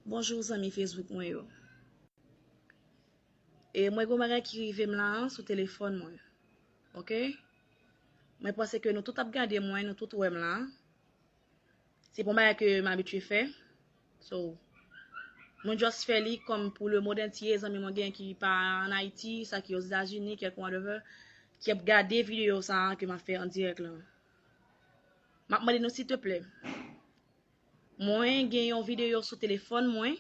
Bonjour zanmi Facebook mwen yo e mwen gon bagay ki rivem la sou telefòn mwen ok mwen panse ke nou tout ap gade mwen nou tout wèm la se pon bagay ke m abitye fè so mwen just fè li kòm pou le mond antye zanmi mwen gen ki pa an Ayiti sa ki ozetazini kèk whatever ki ap gade video sa ke m ap fè an dirèk la m ap mande nou sitèplè Mwen gen yon video sou telefòn mwen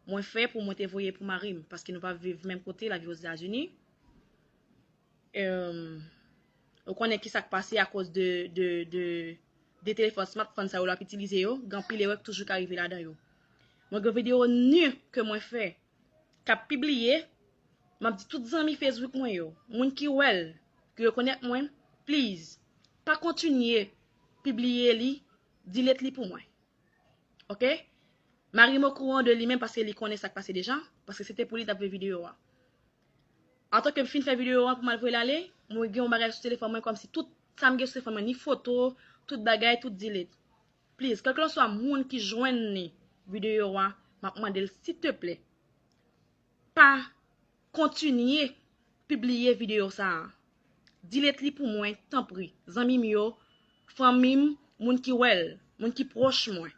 mwen fè pou mwen te voye pou marim paske nou pa viv menm kote lap viv ozetazini eum ou konnen ki sak pase akoz de de de de telefòn smartphone sa yo lap itilize yo gen anpil erè ki toujou ka rive ladan yo mwen gen video nu ke mwen fè kap pibliye map di tout zanmi facebook mwen yo moun ki wèl ki rekonèt mwen please pa kontinye pibliye li Delete li pou mwen ok. Marim okouran de li menm paske li konnen sak pase deja paske se te pou li tap veye video a antan kem fin fè video a pou mal voyel ale mwen gen yon bagay sou telefòn mwen kòmsi tout sam gen sou telefòn mwen ni foto tout bagay tout delete please kelkelanswa moun ki jwenn li video a map mandel siteplè pa Kontinye pibliye video sa a. Dilet li pou mwen tanpri zanmi m yo, fanmi m, moun ki wè l, moun ki pwòch mwen.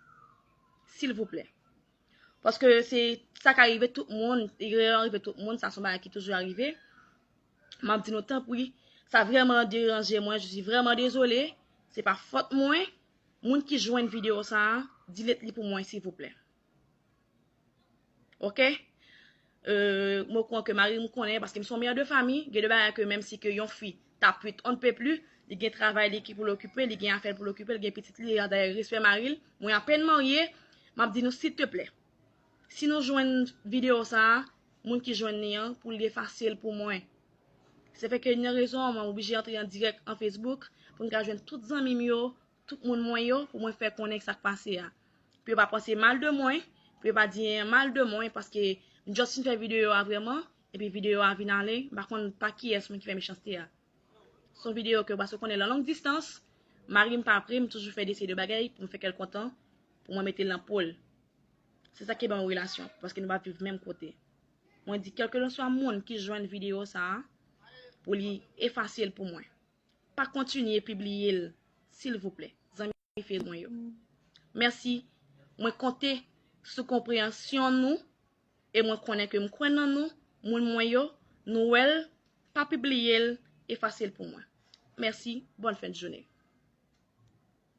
Silvouplè. Paske se sa ka rive tout moun, erè an rive tout moun, sa son bagay ki toujou arive. M ap di nou tanpri, sa vrèman deranje mwen, je suis vrèman dezole, se pa fòt mwen. Moun ki jwenn video sa a, dilet li pou mwen silvouplè. Ok euh mwen kwè ke marim konnen paske m son mère de famille, gen de bagay ke menm si ke yon fi ta pwit on ne peut plus, li gen travay li ki pou l okipe, li gen afè l pou l okipe, li gen pitit li, dayè respè mari l, mwen apèn marye, m ap di nou silteplè si nou jwenn video sa, moun ki jwenn li an pou li efase l pou mwen. Se fè ke yon rezon mwen oblije antre an dirèk an Facebook pou m ka jwenn tout zanmi m yo tout moun mwen yo pou mwen fè konnen sa k pase a. Pou yo pa panse mal de mwen, pou yo pa di anyen mal de mwen paske m just fin fè videyo a vrèman epi videyo a vin ale, m pa konn pa kiyès moun ki fè mechanste a. S on videyo ke baso konnen lan long distans, mari m pa pre m toujou fè de seri de bagay pou m fè kè l kontan, pou mwen mete l nan po l. Se sa ki ban yon relasyon paske nou pa viv menm kote. Mwen di kèlkelanswa moun ki jwenn videyo sa a pou li efase l pou mwen. Pa kontinye pibliye l silvouplè zanmi fidèl mwen yo. Mèsi, mwen konte sou konpreyansyon nou e mwen konnen ke m kwè nan nou moun mwen yo, nou wè l pa pibliye l efase l pou mwen. Mèsi, bòn fen de joune.